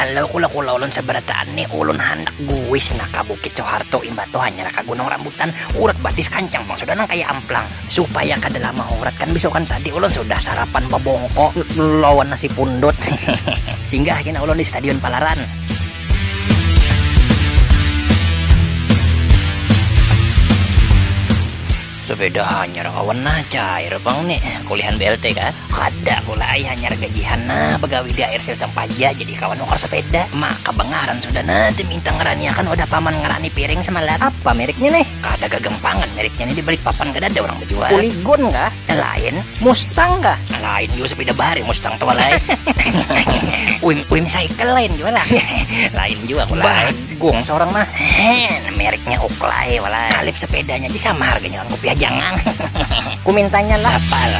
Halau kula-kula ulun sabarataan ni ulun handak buwis nah ka Bukit Soeharto imbah tu hanyar ka Gunung Rambutan urat batis kancang pang sudah nang kaya amplang supaya kada lama urat kan bisukan tadi ulun sudah sarapan babongko lawan nasi pundut hehehe singgah kina ulun di Stadion Palaran. Sepeda hanyar kawan nah, cair pang ni, kulihan BLT kah? Kada pula ai hanyar gajihan nah, bagawi di ARC usang paja, jadi kawan nukar sepeda, maka bangaran sudah nah diminta ngaraniakan wadah paman ngarani piring semalam. Apa meriknya nih? Kada gagampangan meriknya nih, di Balikpapan kadada urang bajual. Polygon kah? Lain. Mustang kah? Lain jua, sepeda bahari Mustang tu walai. Uim Uim Cycle lain jua lah. Lain jua pula. Gung seorang mah hehehe mereknya uklai walai kalip sepedanya di sama harganya orang kopiah jangan ku mintanya lah apal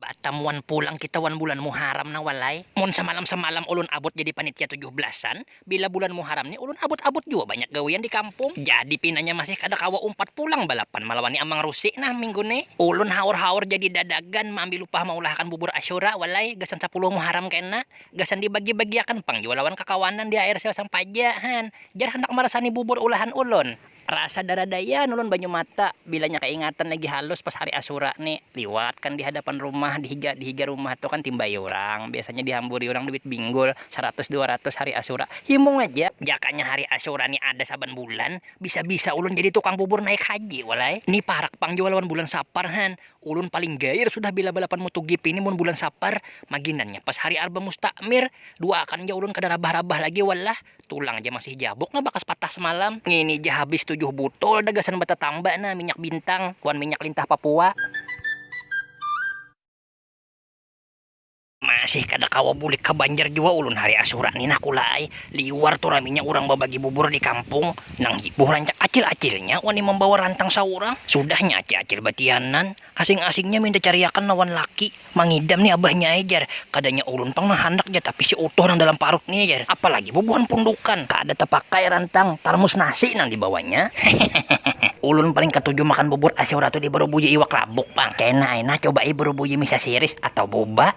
Batam wan pulang kita wan bulan muharam nah walai mun samalam samalam ulun abut jadi panitia tujuh belasan bila bulan muharam ni ulun abut abut jua banyak gawian di kampung jadi pinanya masih kada kawa umpat pulang balapan malawani amang rusi nah minggu ni ulun haur haur jadi dadagan maambil upah maulahakan bubur asyura walai gasan sapuluh muharam kena. Gasan dibagi-bagiakan pang jua lawan kakawanan di air sel sang paja, han. Jar handak marasani bubur ulahan ulun. Rasa daradaian ulun banyu mata, bilanya kaingatan lagi halus pas hari asura ni. Liwat kan di hadapan rumah, di higa di higa rumah tu kan timbai urang, biasanya dihamburi urang duit binggul, saratus dua ratus hari asura. Himung aja. Jakanya hari asura ni ada saban bulan, bisa-bisa ulun jadi tukang bubur naik haji wal ai. Ni parak pang jua lawan bulan sapar, han. Ulun paling gair sudah bila balapan motogp ni mun bulan sapar, maginannya pas hari arba mustakmir, duaakan ja ulun kada rabah-rabah lagi wallah, tulang ja masih jabuk nah bakas patah semalam. Ngini ja habis tujuh butol dah gasan batatamba nah minyak bintang wan minyak lintah papua. Masih kada kawa bulik ka Banjar jua ulun hari Asyura ni nah Kula ai, liwar tu raminya urang babagi bubur di kampung, nang hibuh rancak acil-acilnya wani mambawa rantang saurang, sudahnya acil-acil batianan, asing-asingnya minta cariakan lawan laki, mangidam ni abahnya ai jar, kadanya ulun pang nang handak jar tapi si utuh nang dalam parut ni jar, apalagi bubuhan pundukan, kada tapakai rantang, tarmus nasi nang dibawanya, hehehehehe. Ulun paling katuju makan bubur Asyura tu dibarubuji iwak rabuk pang, kena ai nah cobai barubuji. uji misa siris atau buba.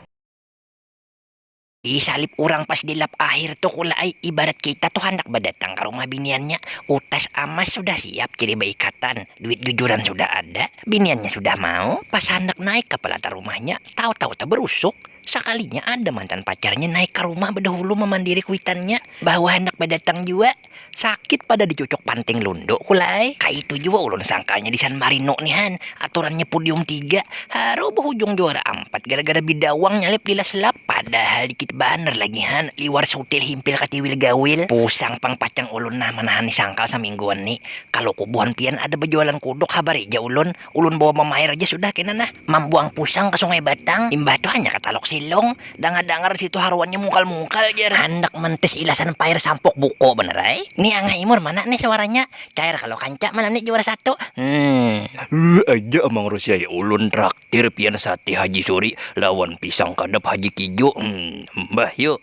Disalib urang pas di lap akhir tu kula ai, ibarat kita tu handak badatang ka rumah biniannya, utas amas sudah siap jadi baikatan, duit jujuran sudah ada, biniannya sudah mau, pas handak naik ka palatar rumahnya, tahu-tahu tabarusuk, sakalinya ada mantan pacarnya naik ka rumah badahulu mamandiri kuitannya, bahwa handak badatang jua. Sakit pada dicucuk panting lundu kula ai. Kaitu jua ulun sangkanya di San Marino ni han, aturannya pudium tiga, haru bahujung juara ampat gara-gara bidawang nyalip di last lap. Padahal dikit banar lagi han, liwar sutil himpil katiwil gawil. Pusang pang pacang ulun nah manahani sangkal samingguan ni. Kaluku buhan pian ada bajualan kuduk habari ja ulun. Ulun bawa mama air aja sudah kena nah, mambuang pusang ka sungai batang, imbah tu hanyar ka talok silong, dangar dangar disitu haruannya mungkal mungkal jar. Handak mentis ilasan pair sampuk buko banar ai ni angah imur mana nih suaranya cair kalo kanca malam ni juara satu hmm. Lululh aja amang rusiai ulun traktir pian sate haji suri lawan pisang kadap haji kijo hmm mbah yuk.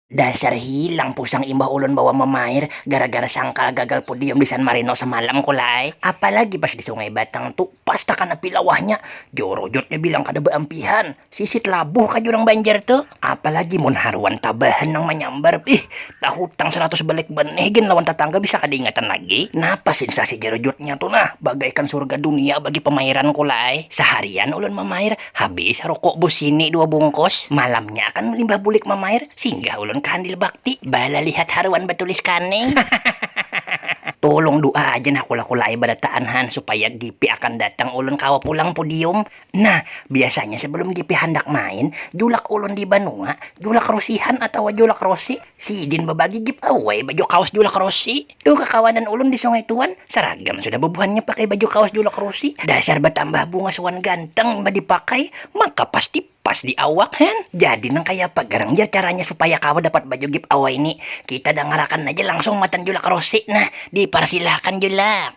Dasar hilang pusang imbah ulun bawa mamair gara-gara sangkal gagal podium di San Marino samalam kula ai. Apalagi pas di Sungai Batang tu, pas takana pilawahnya, jorojotnya bilang kada baampihan. Sisit labuh kah jar urang Banjar tu. Apalagi mun haruan tabahan nang manyambar, bih, tahutang saratus balik benih gin lawan tatangga bisa kada ingatan lagi. Napa sinsasi jorojotnya tu nah, bagaikan surga dunia bagi pamairan kula ai. Saharian ulun mamair, Habis rokok busini dua bungkus, malamnya akan melimbah bulik mamair, singgah ulun ka handil bakti, balalihat haruan batulis kaning. Tulung du'a aja nah kula-kulaai barataan han supaya GP akan datang ulun kawa pulang pudium. Nah, biasanya sebelum GP handak main, julak ulun di banua, julak rosihan atawa julak rosi, sidin babagi giveaway baju kaos julak rosi. Tu kakawanan ulun di sungai tu wan, saragam sudah bubuhannya pakai baju kaos julak rusi, dasar batambah bungas wan ganteng imbah dipakai, maka pasti pas di awak hen. Jadi nang kaya apa garang jar caranya supaya kawa dapat baju gib awai ni, kita dangarakan aja langsung matan julak rusi nah, diparsilahakan julak.